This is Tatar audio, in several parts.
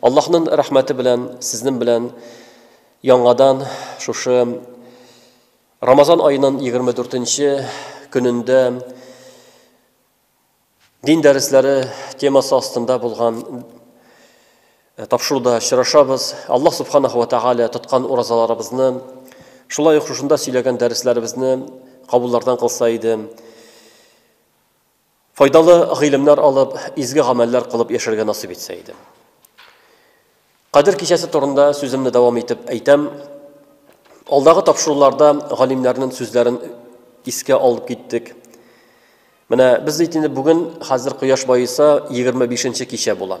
Аллаһнын рәхмәте белән сезнен белән яңадан шушы Рамазан аенын егерме дүртенче көнендә дин дәресләре темасы астында булган Э, тапшыруда очрашабыз. Аллаһ субханаху ва тааля тоткан уразаларыбызны, шулай ук шушында сөйләгән дәресләребезне кабуллардан кылса иде. Файдалы гыйлемнәр алып, изге гамәлләр кылып яшәргә насыйп итсә иде. Кадер кичәсе турында сүземне дәвам итеп әйтәм. Алдагы тапшыруларда галимнәрнең сүзләрен искә алып киттек. Менә без бит инде бүген хәзер кояш баеса 25 нче кичә була.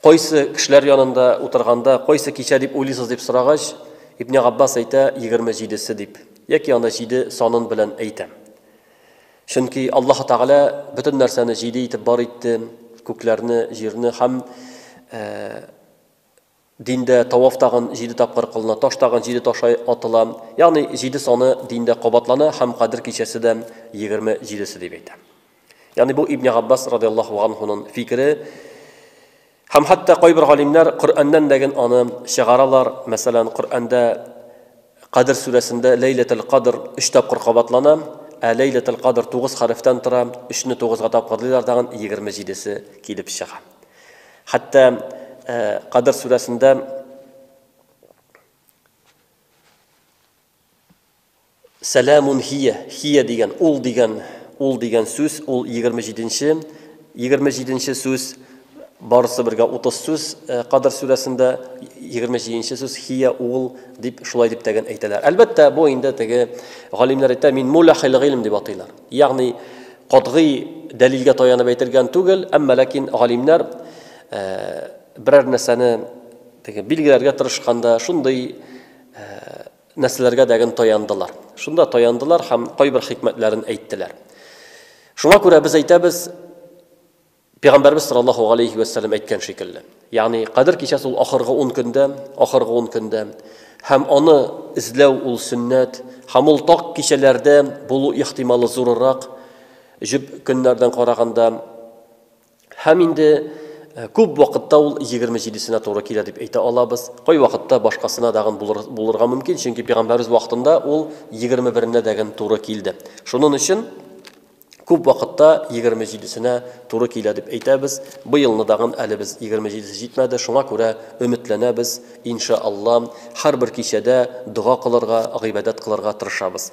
Кайсы кешеләр янында утырганда, кайсы кичә дип уйлыйсыз дип сорагач, Ибне Габбас әйтә, егерме җидесе дип, яки аны җиде санын белән әйтәм. Чөнки Аллаһ Тәгалә бөтен нәрсәне җиде итеп бар итте, күкләрне, җирне һәм диндә таваф тагын җиде тапкыр кылына, таш тагын җиде ташай атыла. Ягъни җиде саны диндә кабатлана һәм Кадер кичәсе дә егерме җидесе дип әйтә. Ягъни бу Ибн Габбас радиаллаһу анһунын фикере. Һәм хәтта кайбер галимнәр Коръәннән дәген аны чыгаралар. Мәсәлән, Коръәндә Кадр сүрәсендә Ләйләтул Кадр 3 тапкыр кабатлана, ә Ләйләтул Кадр 9 хәрефтән тора, 3 не 9 га тапкырлыйлар тагын 27-се килеп чыга. Хәтта Кадр сүрәсендә Сәләмун һия, һия дигән, ул дигән, ул дигән сүз, ул егерме җиденче, егерме җиденче сүз, барысы бергә утыз сүз, Кадр сүрәсендә егерме җиденче сүз, һия, ул, дип, шулай дип тәген әйтәләр. Әлбәттә, бу инде теге галимнәр әйтә, мин муләхил гыйлем дип атыйлар. Ягъни, катгый дәлилгә таянып әйтелгән түгел, әмма ләкин галимнәр берәр нәрсәне теге билгеләргә тырышканда, шундый нәрсәләргә дәген таяндылар. Шунда таяндылар һәм кайбер хикмәтләрен әйттеләр. Шуңа күрә без әйтәбез, Пәйгамбәрбез саллаллаһу алейхи вә сәлләм әйткән шикелле. Ягъни Кадер кичәсе ул ахыргы 10 көндә, ахыргы 10 көндә һәм аны эзләү ул сөннәт, һәм ул таг кичәләрдә булу ихтималы зурырак, җөп көннәрдән караганда. Һәм инде күп вакытта ул 27-сенә туры килә дип әйтә алабыз. Кай вакытта башкасына дагын булыр, булырга мөмкин, чөнки пәйгамбәрбез вакытында ул 21-нә дәген туры килде. Шунын өчен күп вакытта 27-сенә туры килә дип әйтәбез. Быелны дагын әле без 27-се җитмәде, шуңа күрә өметләнәбез, инша Алла, һәрбер кичәдә дога кылырга, гыйбадәт кылырга тырышабыз.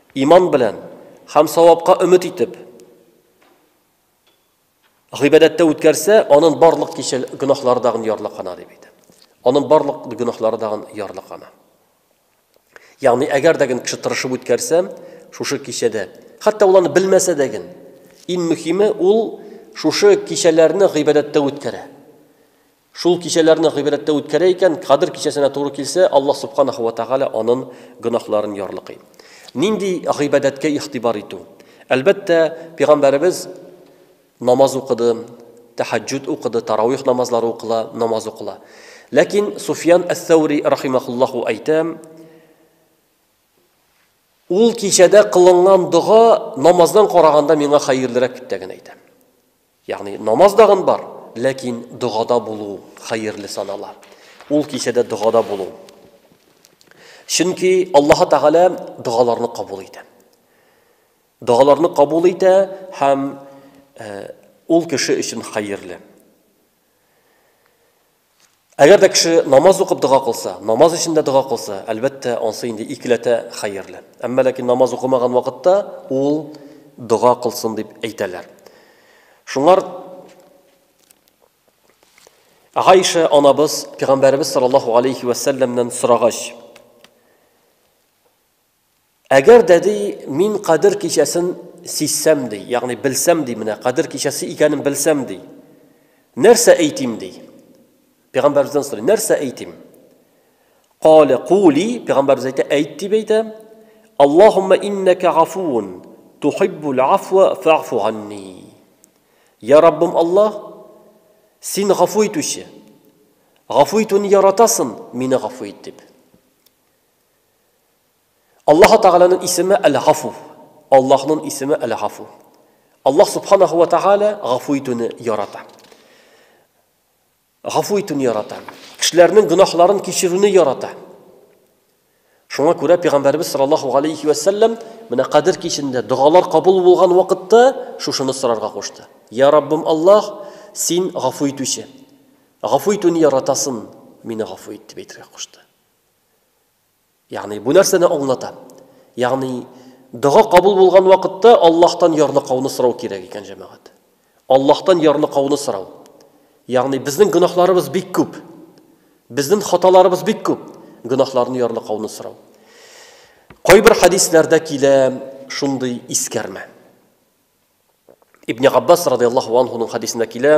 Иман белән һәм савапка өмет итеп, гыйбадәттә үткәрсә, анын барлык кичел гөнаһлары дагын ярлыкана дип әйтә. Анын барлык гөнаһлары дагын ярлыкана. Ягъни, әгәр дә кеше тырышып үткәрсә, шушы кичәдә, хәтта ул аны белмәсә дә ген, иң мөһиме ул шушы кичәләрне гыйбадәттә үткәрә. Шул кичәләрне гыйбрәттә үткәрә икән, Кадер кичәсенә туры килсә, Аллаһ Субханаһу ва Тәгалә анын гөнаһларын ярлыкый. Нинди гыйбадәткә игътибар итү? Әлбәттә, Пигамбәребез намаз укыды, тәһәҗҗүд укыды, тарауих намазлары укыла, намаз укыла. Ләкин Суфьян әс-Сәүри рахимаһуллаһу әйтә, Ул кичәдә кылынган дога намаздан караганда миңа хәерлерәк дип тә генә әйтә. Ягъни намаз дагын бар, ләкин догада булу хәерле санала. Ул кичәдә догада булу. Чөнки Аллаһ Тәгалә догаларны кабул итә. Догаларны кабул итә һәм ул кеше өчен хәерле. Әгәр дә кеше намаз укып дога кылса, намаз эчендә дога кылса, әлбәттә, ансы инде икеләтә хәерле. Әмма ләкин намаз укымаган вакытта ул дога кылсын дип әйтәләр. Шуңар Гайша анабыз Пәйгамбәребез саллаллаһу алейхи ва сәлләмнән сорагач, Әгәр дә, ди, мин Кадер кичәсен сизсәм, ди, ягъни белсәм, ди, менә Кадер кичәсе икәнен белсәм, ди, нәрсә әйтим, ди? Пәйгамбәребездән сорый, нәрсә әйтим? Кале кули, пәйгамбәребез әйтә, әйт дип әйтә. Аллаһумма иннака гафуун, тухиббул афва фаъфу анни. Я Раббым Аллаһ, син гафу итүче. Гафу итүне яратасың, мине гафу ит дип. Аллаһ Тәгаләнең исеме Әл-Гафу. Аллаһның исеме Әл-Гафу. Аллаһ Субханаһу ва Тәгалә гафу итүне ярата. Гафу итүне ярата. Кешеләрнең гөнаһларын кичерүне ярата. Шуңа күрә пәйгамбәрбез саллаллаһу алейхи ва саллям менә Кадер кичендә догалар кабул булган вакытта шушыны сорарга кушты. Я Раббым Аллаһ, син гафу итүче. Гафу итүне яратасың, мине гафу ит дип әйтергә кушты. Ягъни бу нәрсәне аңлата. Ягъни дога кабул булган вакытта Аллаһтан ярныкауны сорау кирәк икән, җәмәгать. Аллаһтан ярныкауны сорау. Ягъни безнең гөнаһларыбыз бик күп. Безнең хаталарыбыз бик күп. Гөнаһларны ярныкауны сорау. Кайбер хадисләрдә килә шундый искәрмә. Ибн Габбас радиаллаһу анһуның хадисендә килә,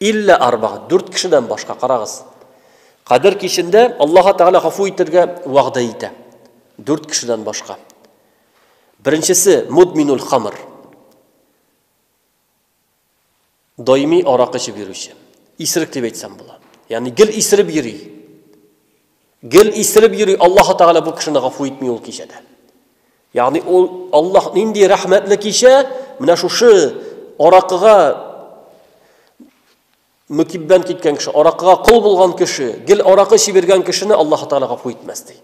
Илле арба, дүрт кешедән башка, карагыз. Кадер кичендә Аллаһы Тәгалә гафу итергә вәгъдә итә. Дүрт кешедән башка. Беренчесе мудминул хамр. Даими аракы эчеп йөрүче. Исерек дип әйтсәм була. Ягъни гел исереп йөри. Гел исереп йөри, Аллаһ Тәгалә бу кешене гафу итми ул кичәдә. Ягъни ул Аллаһ нинди рәхмәтле кичә, менә шушы аракыга мөкиббән киткән кеше, аракыга кол булган кеше, гел аракы чибергән кешене Аллаһ Тәгалә гафу итмәс ди.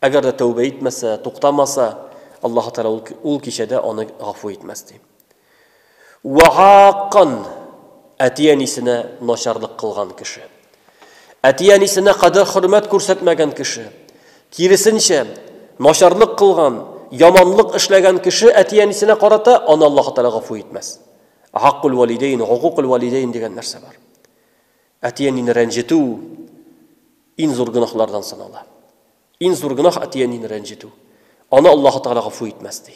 Әгәр дә тәүбә итмәсә, туктамаса, Аллаһ Тәгалә ул кичәдә аны гафу итмәс ди. Вәгакан, әти-әнисенә начарлык кылган кеше. Әти-әнисенә кадер-хөрмәт күрсәтмәгән кеше. Киресенчә, начарлык кылган, яманлык эшләгән кеше әти-әнисенә карата аны Аллаһ Тәгалә гафу итмәс. Гаккул валидейн, гукукул валидейн дигән нәрсә бар. Әти-әнине рәнҗетү иң зур гөнаһлардан санала. Иң зур гөнаһ әти-әнине рәнҗетү. Аны Аллаһ Тәгалә гафу итмәс ди.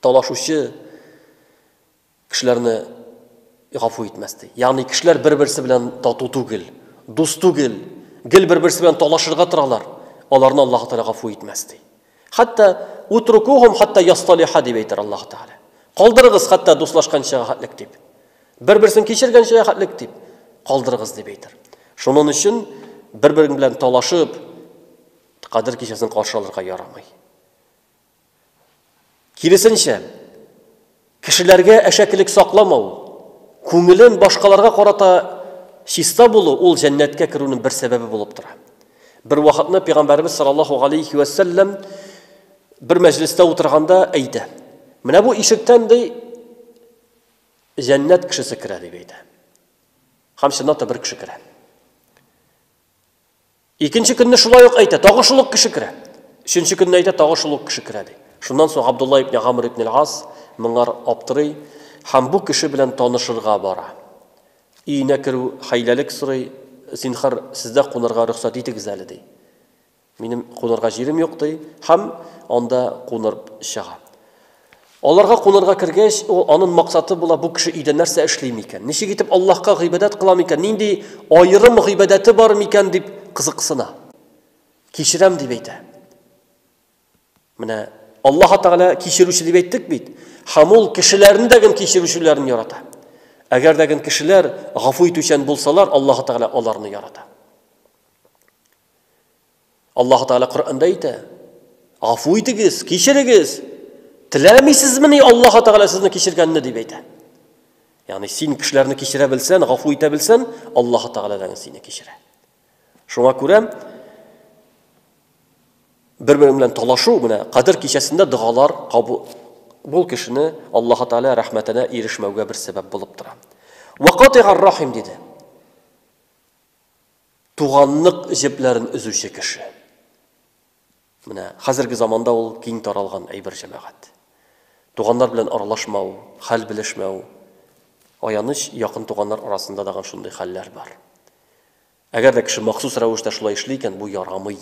талашучы кешеләрне гафу итмәс ди. Ягъни кешеләр бер-берсе белән тату түгел, дус түгел, гел бер-берсе белән талашырга торалар. Аларны Аллаһ Тәгалә гафу итмәс ди. Хәтта утрукухум хәтта ясталиха дип әйтер Аллаһ Тәгалә. Калдырыгыз хәтта дуслашканча хәтлек дип. Бер-берсен кичергәнчә хәтлек дип калдырыгыз дип әйтер. Шуның өчен бер-бер белән талашып кадер кичәсен каршы алырга ярамый. Киресенчә, кешеләргә әшәкелек сакламау, күңелен башкаларга карата чиста булу ул җәннәткә керүнең бер сәбәбе булып тора. Бервакытны пәйгамбәребез саллаллаһу галәйһи ва сәлләм бер мәҗлестә утырганда әйтә. Менә бу ишектән ди җәннәт кешесе керә дип әйтә. Һәм чынлап та бер кеше керә. Икенче көнне шулай ук әйтә, тагы шул ук кеше керә. Өченче көнне әйтә, тагы шул ук кеше керә ди. Шуннан соң Габдулла ибн Гамр ибн Аль-Ас моңар аптырый һәм бу кеше белән танышырга бара. Өенә керү хәйләлек сорый, Зинхар, сездә кунарга рөхсәт итегез әле, ди. Минем кунарга җирем юк, ди, һәм анда кунып чыга. Аларга кунарга кергәч, ул анын максаты була, бу кеше өйдә нәрсә эшли микән? Ничек итеп Аллаһка гыйбадәт кыла микән? Нинди аерым гыйбадәте бар микән дип кызыксына. Кичерәм дип әйтә. Менә Аллаһ Тәгалә кичерүче дип әйттек бит. Һәм ул кешеләрне дә гел кичерүчеләрен ярата. Әгәр дә гел кешеләр гафу итүчән булсалар, Аллаһ Тәгалә аларны ярата. Аллаһу Тәгалә Коръәндә әйтә, Гафу итегез, кичерегез. Теләмисезмени Аллаһу Тәгалә сезне кичергәнне дип әйтә. Ягъни син кешеләрне кичерә белсән, гафу итә белсән, Аллаһу Тәгалә дә сине кичерә. Шуңа күрә бер-бер белән талашу менә кадер кичәсендә догалар кабул бул кешене Аллаһу Тәгалә рәхмәтенә ирешмәүгә бер сәбәп булып тора. Вакатигар рахим диде. Туганлык җепләрен өзүче кеше. Менә хәзерге заманда ул киң таралган әйбер җәмәгать. Туганнар белән аралашмау, хәл белешмәү. Аяныч, якын туганнар арасында да шундый хәлләр бар. Әгәр дә кеше махсус рәвештә шулай эшли икән, бу ярамый.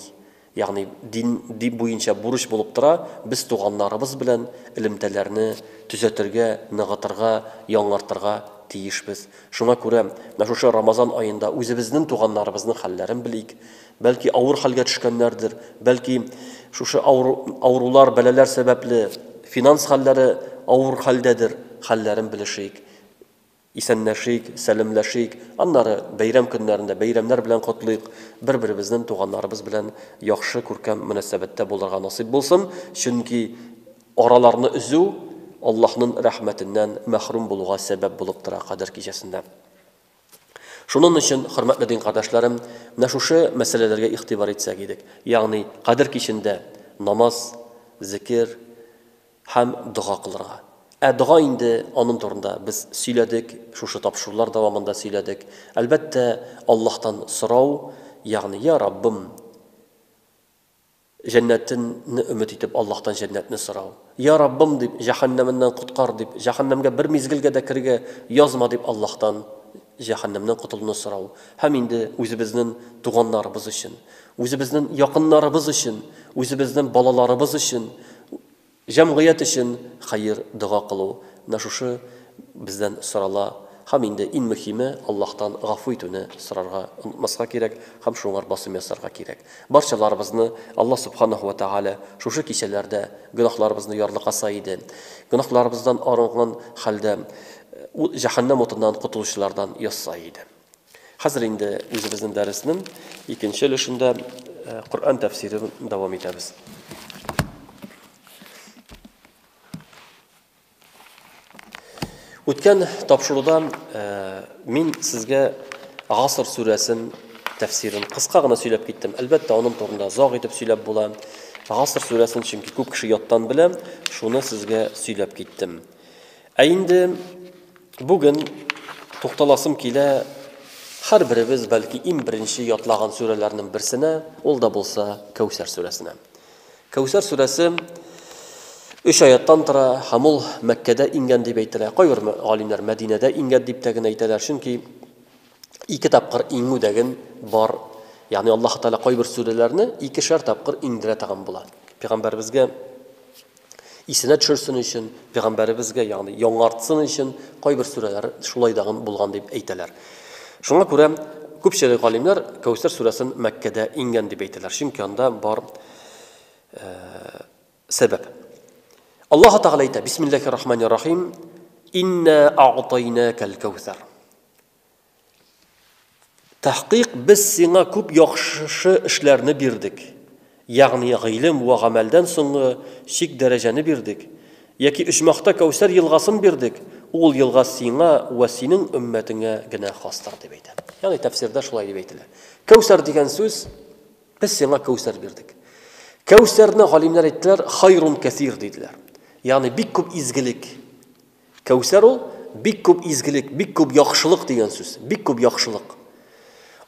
Ягъни дин дин буенча бурыч булып тора, без туганнарыбыз белән элемтәләрне төзәтергә, ныгытырга, яңартырга тиешбез. Шуңа күрә менә шушы Рамазан аенда үзебезнең туганнарыбызның хәлләрен белик. Бәлки авыр хәлгә төшкәннәрдер, бәлки шушы авыру авырулар, бәлаләр сәбәпле финанс хәлләре авыр хәлдәдер, хәлләрен белешик. Исәнләшик, сәләмләшик, аннары бәйрәм көннәрендә бәйрәмнәр белән котлыйк, бер-беребезнен туганнарыбыз белән яхшы, күркәм мөнәсәбәттә булырга насыйп булсын, чөнки араларны өзү Аллаһнын рәхмәтеннән мәхрүм булуга сәбәп булып тора Кадер кичәсендә. Шунын өчен, хөрмәтле дин кардәшләрем, менә шушы мәсьәләләргә игътибар итсәк идек, ягъни Кадер кичендә намаз, зекер, Һәм дога кылырга. Ә дога инде, анын турында без сөйләдек, шушы тапшырулар дәвамында сөйләдек. Әлбәттә, Аллаһтан сорау, ягъни, Йа Раббым, җәннәтен не өмет итеп, Аллаһтан җәннәтне сорау. Йа Раббым, дип, җәһәннәменнән коткар, дип, җәһәннәмгә бер мизгелгә дә керергә язма, дип, Аллаһтан җәһәннәмнән котылуны сорау һәм инде үзебезнен туганнарыбыз өчен, үзебезнен якыннарыбыз өчен, үзебезнен балаларыбыз өчен, җәмгыять өчен хәер дога кылу, менә шушы бездән сорала һәм инде ин мөхиме Аллаһтан гафу итүне сорарга онытмаска кирәк һәм шуңар басым ясарга кирәк. Барчаларыбызны Аллаһ Субханаһу вә Тәгалә шушы кичәләрдә гөнаһларыбызны ярлыкаса иде. Гөнаһларыбыздан арынган хәлдә ул җәһәннәм утыннан котылучылардан ясай иде. Хәзер инде үзебезнең дәреснең икенче өлешендә э, Коръән тәфсирен дәвам итәбез. Үткән тапшыруда э, мин сезгә Гаср сүрәсен тәфсирен кыска гына сөйләп киттем. Әлбәттә, аның турында заг итеп сөйләп була. Гаср сүрәсен чөнки күп кеше яттан белә, шуны сезгә сөйләп киттем. Ә инде бүген тукталасым килә һәрберебез, бәлки, иң беренче ятлаган сүрәләрнең берсенә, ул да булса Кәүсәр сүрәсенә. Кәүсәр сүрәсе өч аяттан тора һәм ул Мәккәдә иңгән дип әйтелә. Кайбер галимнәр Мәдинәдә иңгән дип тә генә әйтәләр, чөнки ике тапкыр иңү дәген бар. Ягъни Аллаһ Тәгалә кайбер сүрәләрне икешәр тапкыр иңдерә торган була. Пәйгамбәребезгә Исенә төшерсен өчен, пәйгамбәребезгә, ягъни яңартсын өчен кайбер сүрәләр шулай дагын булган дип әйтәләр. Шуңа күрә күпчелек галимнәр Кәүсәр сүрәсен Мәккәдә иңгән дип әйтәләр, чөнки анда бар сәбәп. Аллаһы Тәгалә әйтә, Бисмиллахир-Рахманир-Рахим, Иннә а'тайнәкәл-Кәүсәр. Тәхкыйк без сиңа күп яхшы эшләрне бирдек, ягъни гыйлем вә гамәлдән соңгы чик дәрәҗәне бирдек, яки оҗмахта Кәүсәр елгасын бирдек, ул елга сиңа вә синең өммәтеңә генә хастыр, дип әйтә. Ягъни тәфсирдә шулай дип әйтелә. Кәүсәр дигән сүз, без сиңа Кәүсәр бирдек. Кәүсәрне галимнәр әйттеләр, хайрун кәсир диделәр. Ягъни бик күп изгелек. Кәүсәр ул, бик күп изгелек, бик күп яхшылык дигән сүз, бик күп яхшылык.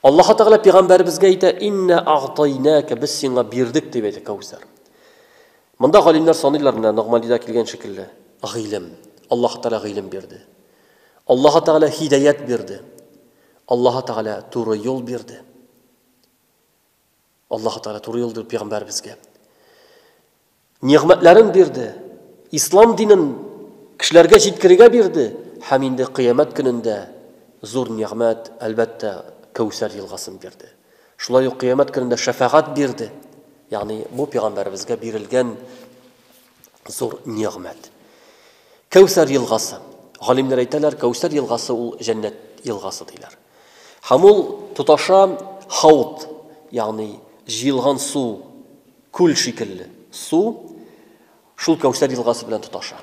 Аллаһы Тәгалә пигамбәребезгә әйтә, Иннә агътайнәкә, без сиңа бирдек, дип әйтә Кәүсәр. Монда галимнәр саныйлар менә Ногмандида килгән шикелле, гыйлем. Аллаһы Тәгалә гыйлем бирде. Аллаһы Тәгалә һидаять бирде. Аллаһы Тәгалә туры юл бирде. Аллаһу Тәгалә туры юл биреп пигамбәребезгә нигъмәтләрен бирде, ислам динен кешеләргә җиткерергә бирде һәм инде кыямәт көнендә зур нигъмәт, әлбәттә, Кәүсәр елгасын бирде. Шулай ук кыямәт көнендә шәфәгать бирде. Ягъни бу пигамбәребезгә бирелгән зур нигъмәт. Кәүсәр елгасы. Галимнәр әйтәләр, Кәүсәр елгасы ул җәннәт елгасы диләр. Һәм ул тоташа хаут, ягъни җыелган су, күл шикелле су шул Кәүсәр елгасы белән тоташа.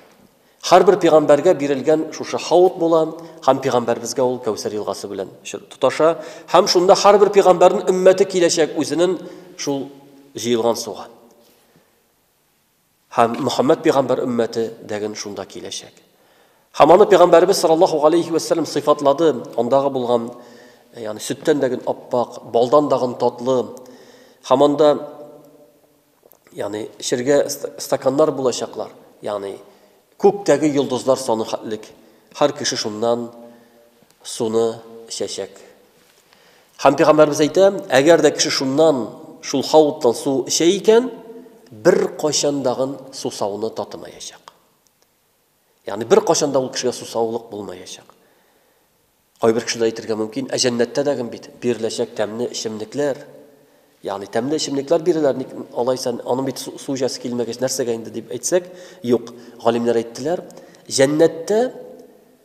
Һәрбер пигамбәргә бирелгән шушы хаут була, һәм пигамбәрбезгә ул Кәүсәр елгасы белән тоташа, һәм шунда һәрбер пигамбәрнең өммәте киләчәк үзенең шул җыелган суга. Һәм Мөхәммәд пәйгамбәр өммәте дәген шунда киләчәк. Һәм аны пәйгамбәрбез саллаллаһу алейхи ва саллям сыйфатлады, андагы булган, ягъни сөттән дәген аппак, балдан дагын татлы. Һәм анда ягъни эчергә стаканнар булачаклар, ягъни күктәге йолдызлар саны хәтлек. Һәр кеше шуннан суны эчәчәк. Һәм пәйгамбәрбез әйтә, әгәр дә кеше шуннан, шул хауттан су эчә икән, бер кайчандагын сусауны татымаячак. Ягъни бер кайчанда ул кешегә сусаулык булмаячак. Кайбер кешеләр әйтергә мөмкин, ә җәннәттә дә гем бит биреләчәк тәмле эчемлекләр. Ягъни тәмле эчемлекләр биреләр, ник алайса аның бит су җасы килмәгәч нәрсәгә инде дип әйтсәк, юк. Галимнәр әйттеләр, җәннәттә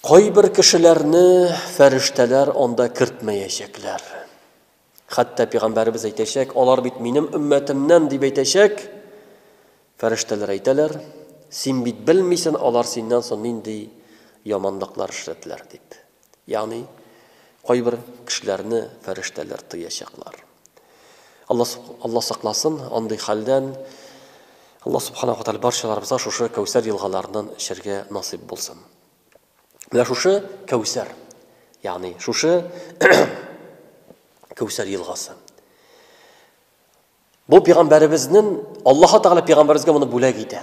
Кайбер кешеләрне фәрештәләр анда кертмәячәкләр. Хәтта пәйгамбәребез әйтәчәк, алар бит минем өммәтемнән дип әйтәчәк. Фәрештәләр әйтәләр, син бит белмисен, алар синнән соң нинди яманлыклар эшләделәр дип. Ягъни кайбер кешеләрне фәрештәләр тыячаклар. Алла, Алла сакласын андый хәлдән. Алла субханаху тәгалә барчаларыбызга шушы Кәүсәр елгаларыннан эчәргә насыйп булсын. Менә шушы Кәүсәр, ягъни шушы Кәүсәр елгасы. Бу пәйгамбәребезнең Аллаһ Тәгалә пәйгамбәребезгә моны бүләк итә.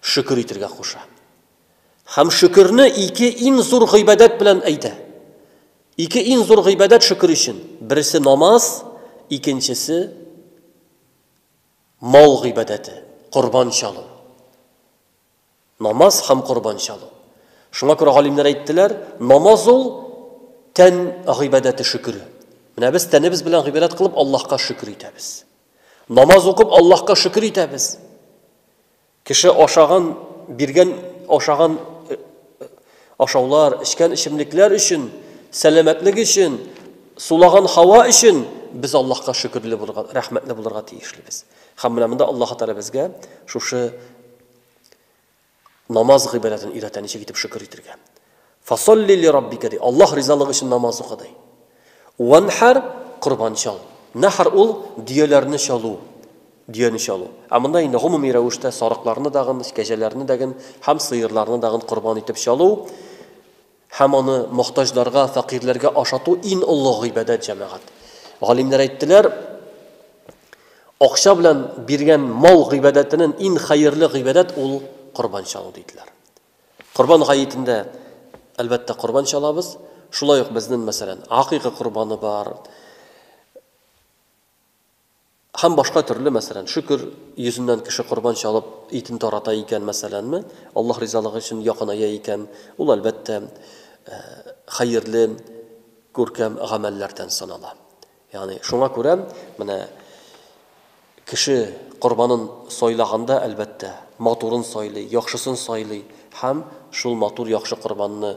Шөкер итергә куша. Һәм шөкерне ике иң зур гыйбадәт белән әйтә. Ике иң зур гыйбадәт шөкер өчен. Берсе намаз, икенчесе мал гыйбадәте, корбан чалу. Намаз һәм корбан чалу. Шуңа күрә галимнәр әйттеләр, намаз ул тән гыйбадәте шөкере. Менә без тәнебез белән гыйбадәт кылып Аллаһка шөкер итәбез. Намаз укып Аллаһка шөкер итәбез. Кеше ашаган, биргән ашаган э, э, ашаулар, эчкән эчемлекләр өчен, сәламәтлек өчен, сулаган һава өчен без Аллаһка шөкерле булырга, рәхмәтле булырга тиешлебез. Һәм менә монда Аллаһ Тәгалә безгә шушы Намаз гыйбадәтен өйрәтә, ничек итеп шөкер итергә. Фасолли ли раббика ди. Аллаһ ризалыгы өчен намаз укы ди. Ванхар корбан чал. Нахар ул дөяләрне чалу, дөяне чалу. Ә монда инде гомуми рәвештә сарыкларны дагын, кәҗәләрне дәген һәм сыерларны дагын корбан итеп чалу. Һәм аны мохтаҗларга, фәкыйрьләргә ашату ин олы гыйбадәт, җәмәгать. Галимнәр әйттеләр, Акча белән биргән мал гыйбадәтенен ин хәерле гыйбадәт ул корбан чалу, диделәр. Корбан гаетендә, әлбәттә, корбан чалабыз. Шулай ук безнен, мәсәлән, акыйка корбаны бар. Һәм башка төрле, мәсәлән, шөкер, йөзеннән кеше корбан чалып, итен тарата икән, мәсәләнме, Аллаһ ризалыгы өчен якыная икән, ул, әлбәттә, хәерле, күркәм гамәлләрдән санала. Ягъни, шуңа күрә, менә кеше корбанын сайлаганда, әлбәттә, матурын сайлый, яхшысын сайлый һәм шул матур, яхшы корбанны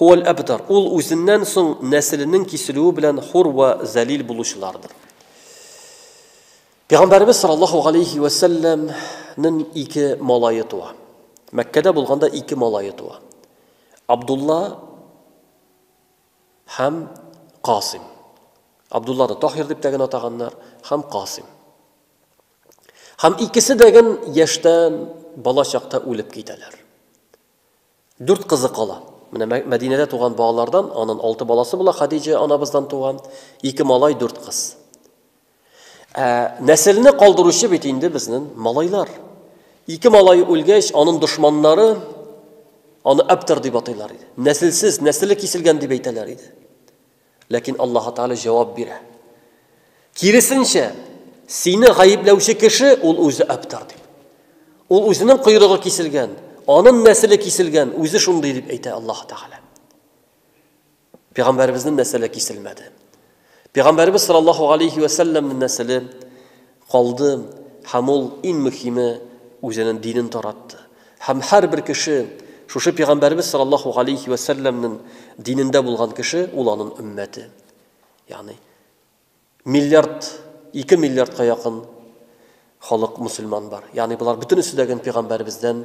Һуәл әбтар, ул үзеннән соң нәселенең киселүе белән хур вә зәлил булучылардыр. Пәйгамбәребез саллаллаһу галәйһи вә сәлләмнең ике малае туа. Мәккәдә булганда ике малае туа. Абдулла һәм Касим. Абдулланы Тахир дип тәген атаганнар һәм Касим. Һәм икесе дә гел яшьтән бала чакта үлеп китәләр. Дүрт кызы кала. Менә Мәк Мәдинәдә туган балалардан анын алты баласы була, Хадиҗә анабыздан туган, ике малай, дүрт кыз. Ә нәселне калдыручы бит инде безнен малайлар. Ике малай үлгәч, анын дошманнары аны Абтар дип атыйлар иде. Нәселсез, нәселе киселгән дип әйтәләр иде. Ләкин Аллаһы Тәгалә җавап бирә. Киресенчә, сине гаепләүче кеше ул үзе Абтар дип. Ул үзенең койрыгы киселгән, анын нәселе киселгән, үзе шундый дип әйтә Аллаһы Тәгалә. Пәйгамбәребезнең нәселе киселмәде. Пәйгамбәребез саллаллаһу алейхи ва сәлләмнең нәселе Калды, һәм ул, иң мөхиме, үзенен динен таратты. Һәм һәрбер кеше, шушы Пигамбәребез саллаллаһу галәйһи вә сәлләмнен динендә булган кеше, ул анын өммәте. Ягъни, миллиард, ике миллиардка якын халык мөселман бар. Ягъни, болар бөтенесе дә ген Пигамбәребездән,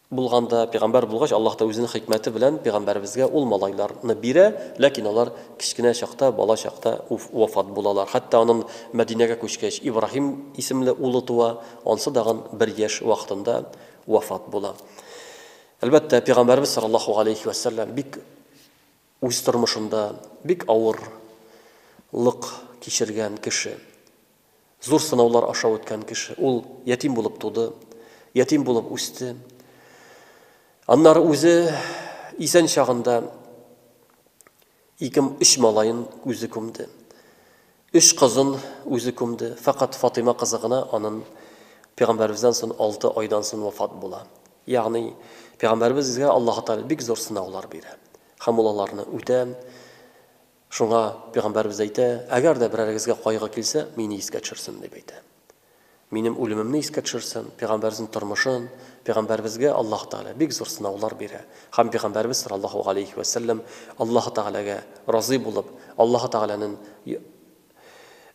Булган да, пигамбәр булгач, Аллаһ та Үзенең хикмәте белән пигамбәребезгә ул малайлар ны бирә, ләкин алар кечкенә чакта, бала чакта уф вафат булалар. Хәтта анын Мәдинәгә күчкәч, Ибраһим исемле улы туа, ансы дагын бер яшь вакытында вафат була. Әлбәттә, пигамбәребез саллаллаһу галәйһи вә сәлләм бик үз тормышында бик авыр лык кичергән кеше. Зур сынаулар аша үткән кеше. Ул ятим булып туды, ятим булып үсте. Аннары үзе исән чагында ике өч малаен үзе күмде. Өч кызын үзе күмде. Фәкать Фатыйма кызы гына анын пәйгамбәребездән сон 6 айдан сон вафат була. Ягъни пәйгамбәребезгә Аллаһы Тәгалә бик зур сынаулар бирә һәм ул аларны үтә. Шуңа Пәйгамбәребез әйтә, Әгәр дә берәрегезгә кайгы килсә, мине искә төшерсен, дип әйтә. Минем үлемемне искә төшерсен, Пәйгамбәребезнең тормышын, Пәйгамбәребезгә Аллаһ Тәгалә бик зур сынаулар бирә. Һәм Пәйгамбәребез саллаллаһу галәйһи вә сәлләм Аллаһ Тәгаләгә разый булып, Аллаһ Тәгаләнең